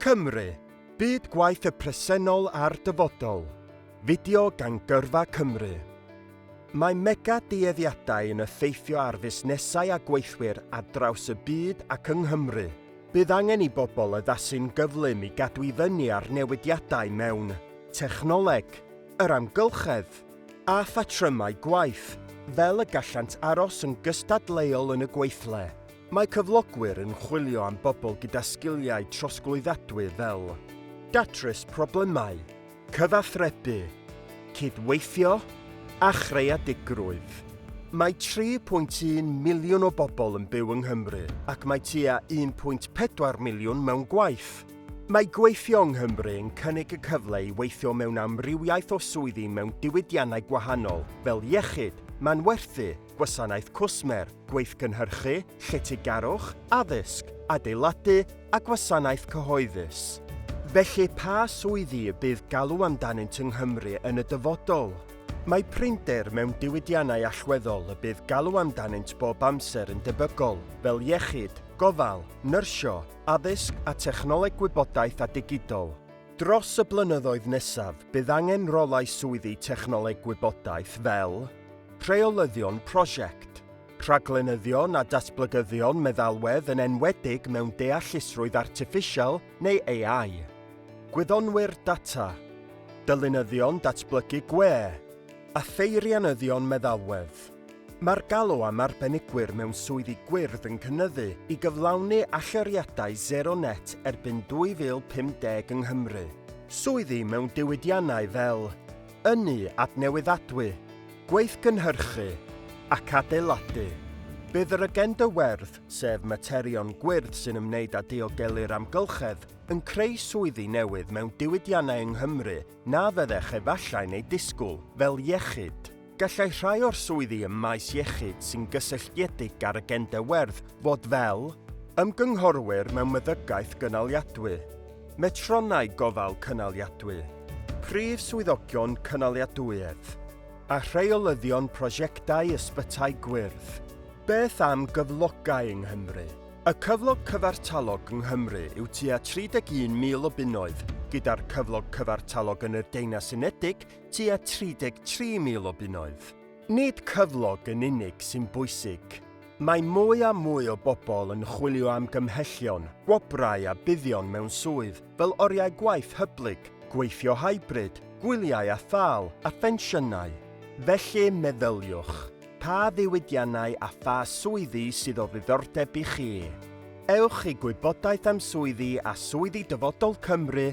Cymru, Byd Gwaith y Presennol a'r Dyfodol, fideo gan Gyrfa Cymru. Mae mega-dueddiadau yn effeithio ar fusnesau a gweithwyr ar draws y byd ac yng Nghymru. Bydd angen i bobl addasu'n gyflym i gadw i fyny â'r newidiadau mewn technoleg, yr amgylchedd, a phatrymau gwaith, fel y gallant aros yn gystadleuol yn y gweithle. Mae cyflogwyr yn chwilio am bobl gyda sgiliau trosglwyddadwy fel datrys problemau, cyfathrebu, cydweithio a chreadigrwydd. Mae 3.1 miliwn o bobl yn byw yng Nghymru ac mae tua 1.4 miliwn mewn gwaith. Mae gweithio yng Nghymru yn cynnig y cyfle i weithio mewn amrywiaeth o swyddi mewn diwydiannau gwahanol fel iechyd, manwerthu, gwasanaeth cwsmer, gweithgynhyrchu, lletygarwch, addysg, adeiladu a gwasanaeth cyhoeddus. Felly, pa swyddi y bydd galw amdanynt yng Nghymru yn y dyfodol? Mae prinder mewn diwydiannau allweddol y bydd galw amdanynt bob amser yn debygol, fel iechyd, gofal, nyrsio, addysg a technoleg gwybodaeth a digidol. Dros y blynyddoedd nesaf, bydd angen rolau swyddi technoleg gwybodaeth fel, Rheolyddion prosiect, rhaglenyddion a datblygyddion meddalwedd yn enwedig mewn deallusrwydd artiffisial neu AI. Gwyddonwyr data, dylunyddion datblygu gwe, a pheirianyddion meddalwedd. Mae'r galw am arbenigwyr mewn swyddi gwyrdd yn cynyddu i gyflawni allyriadau sero net erbyn 2050 yng Nghymru. Swyddi mewn diwydiannau fel. Ynni adnewyddadwy, gweithgynhyrchu ac adeiladu, bydd yr agenda werdd, sef materion gwyrdd sy'n ymwneud â diogelu'r amgylchedd, yn creu swyddi newydd mewn diwydiannau yng Nghymru na fyddech efallai'n eu disgwyl, fel iechyd. Gallai rhai o'r swyddi ym maes iechyd sy'n gysylltiedig â'r agenda werdd fod fel, Ymgynghorwyr mewn Meddygaeth Gynaliadwy, Metronnau Gofal Cynaliadwy, Prif Swyddogion Cynaliadwyedd a Rheolyddion Prosiectau Ysbytai Gwyrdd. Beth am gyflogau yng Nghymru? Y cyflog cyfartalog yng Nghymru yw tua 31,000 o bunnoedd, gyda'r cyflog cyfartalog yn y Deyrnas Unedig tua 33,000 o bunnoedd. Nid cyflog yn unig sy'n bwysig. Mae mwy a mwy o bobl yn chwilio am gymhellion, gwobrau a buddion mewn swydd fel oriau gwaith hyblyg, gweithio hybrid, gwyliau a thâl, a phensiynau. Felly, meddyliwch, pa ddiwydiannau a pha swyddi sydd o ddiddordeb i chi? Ewch i Gwybodaeth am Swyddi a Swyddi Dyfodol Cymru